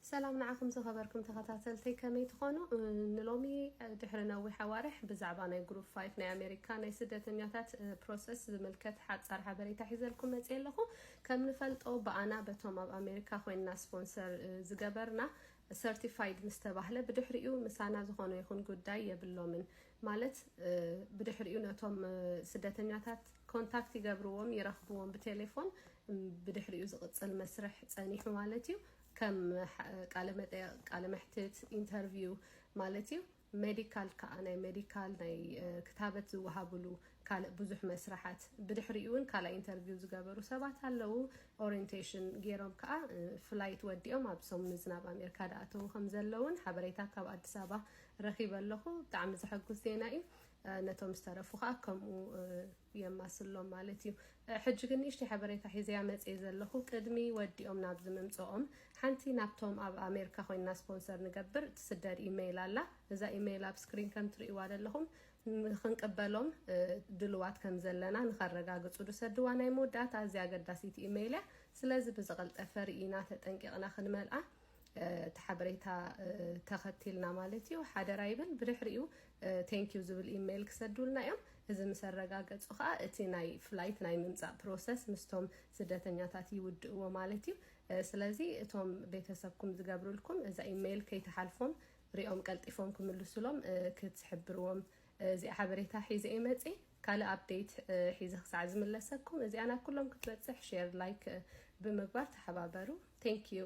ሰላም ንዓኹም ዝኸበርኩም ተኸታተልተይ ከመይ ትኾኑ ንሎሚ ድሕሪ ነዊሕ ኣዋርሕ ብዛዕባ ናይ ግሩፕ ፋይፍ ናይ ኣሜሪካ ናይ ስደተኛታት ፕሮሰስ ዝምልከት ሓፃር ሓበሬታ ሒዘልኩም መፅየ ኣለኹ ከም ንፈልጦ ብኣና በቶም ኣብ ኣሜሪካ ኮይንና ስፖንሰር ዝገበርና ሰርቲፋይድ ምስ ተባህለ ብድሕሪኡ ምሳና ዝኾነ ይኹን ጉዳይ የብሎምን ማለት ብድሕሪኡ ነቶም ስደተኛታት ኮንታክት ይገብርዎም ይረኽብዎም ብቴሌፎን ብድሕሪኡ ዝቕፅል መስርሕ ፀኒሑ ማለት እዩ ከም ቃለ መጠየቕ ቃለ መሕትት ኢንተርቪው ማለት እዩ ሜዲካል ከዓ ናይ ሜዲካል ናይ ክታበት ዝወሃብሉ ካልእ ብዙሕ መስራሓት ብድሕሪኡ እውን ካልኣይ ኢንተርቪው ዝገበሩ ሰባት ኣለዉ ኦሪንቴሽን ገይሮም ከዓ ፍላይት ወዲኦም ኣብ ሰሙን ዝናብ ኣሜሪካ ዳኣተዉ ከም ዘለውን ሓበሬታ ካብ ኣዲስ ኣበባ ረኪበ ኣለኩ ብጣዕሚ ዘሐጉስ ዜና እዩ ነቶም ዝተረፉ ከኣ ከምኡ የማስሎም ማለት እዩ ሕጂ ግን ንእሽተይ ሓበሬታ ሒዘያ መጽየ ዘለኹ ቅድሚ ወዲኦም ናብዚ ምምጽኦም ሓንቲ ናብቶም ኣብ ኣሜሪካ ኮይንና ስፖንሰር ንገብር ትስደድ ኢሜይል ኣላ እዛ ኢሜይል ኣብ ስክሪን ከም ትርእይዋ ዘለኹም ንክንቅበሎም ድልዋት ከም ዘለና ንኸረጋግጹ ድሰድዋ ናይ መወዳእታ ኣዝያ ኣገዳሲት ኢሜይል እያ ስለዚ ብዝቐልጠፈ ርኢና ተጠንቂቕና ክንመልኣ እቲ ሓበሬታ ተኸቲልና ማለት እዩ ሓደራ ይብል ብድሕሪኡ ቴንኪዩ ዝብል ኢሜይል ክሰዱልና እዮም እዚ ምስ ኣረጋገፁ ከዓ እቲ ናይ ፍላይት ናይ ምምፃእ ፕሮሰስ ምስቶም ስደተኛታት ይውድእዎ ማለት እዩ ስለዚ እቶም ቤተሰብኩም ዝገብርልኩም እዛ ኢሜይል ከይተሓልፎም ሪኦም ቀልጢፎም ክምልሱሎም ክትሕብርዎም እዚኣ ሓበሬታ ሒዘ እየ መፅእ ካልእ ኣፕዴት ሒዘ ክሳዕ ዝምለሰኩም እዚኣ ናብ ኩሎም ክትበጽሕ ሼር ላይክ ብምግባር ተሓባበሩ Thank you።